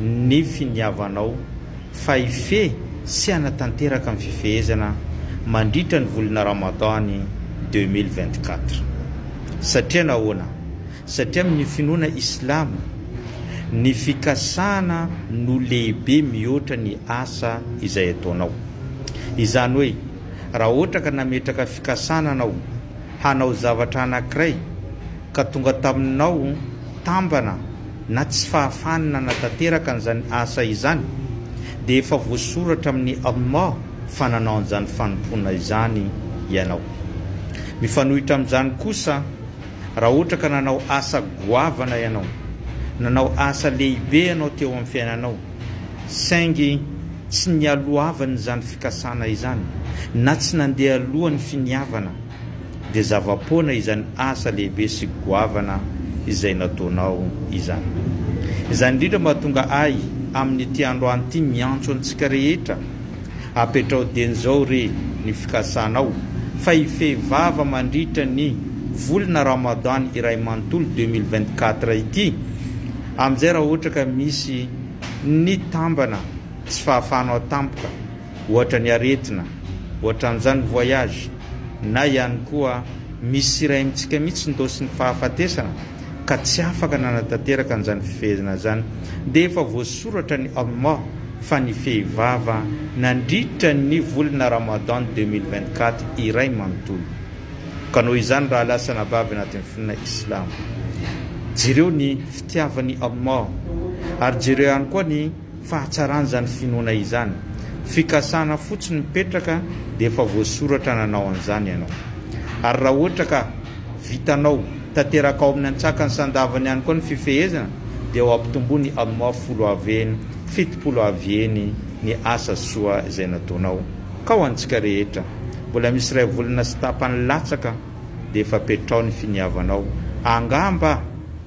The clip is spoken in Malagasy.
ny finiavanao fa hifehy sy hanatanteraka ny fifehezana mandritra ny volana Ramadan deux mille vingt quatre. Satria nahoana? Satria amin'ny finoana islamo, ny fikasana no lehibe mihoatra ny asa izay ataonao. Izany hoe, raha ohatra ka nametraka fikasana anao hanao zavatra anankiray ka tonga taminao tambana, na tsy fahafahany nanatanteraka an'izany asa izany, dia efa voasoratra amin'ny Allah fa nanao an'izany fanompoana izany ianao. Mifanohitra amin'izany kosa, raha ohatra ka nanao asa goavana ianao, nanao asa lehibe ianao teo amin'ny fiainanao, saingy tsy nialohavany izany fikasana izany, na tsy nandeha alohan'ny finiavana, dia zava-poana izany asa lehibe sy goavana izay nataonao izany. Izany indrindra no mahatonga ahy amin'ity androany ity miantso antsika rehetra, apetraho dieny izao re ny fikasanao fa hifehy vava mandritra ny volana Ramadan iray manontolo deux mille vingt-quatre ity, amin'izay raha ohatra ka misy nitambana tsy fahafahanao tampoka, Ohatra ny aretina, ohatran'izany voyage, na ihany koa misy sy iray amintsika mihitsy ndaosy ny fahafatesana ka tsy afaka nanatanteraka an'izany fifehezana izany dia efa voasoratra ny Allah fa ny fehy vava nandritra ny volana Ramadan deux mille vingt quatre iray manontolo ka noho izany raha lasa anabavy anatin'ny finoana Islamo jereo ny fitiavan'i Allah ary jereo ihany koa ny fahatsaran'izany finoana izany. Fikasana fotsiny mipetraka dia efa voasoratra nanao an'izany ianao. Ary raha ohatra ka vitanao, tanteraka ao amin'ny antsakany sandavany ihany koa ny fifehezana dia ho ampitomboiny amin'ny folo avy eny, fitopolo avy eny ny asa soa izay nataonao. Ka ho antsika rehetra, mbola misy iray volana sy tapany latsaka dia efa petraho ny finiavanao, angamba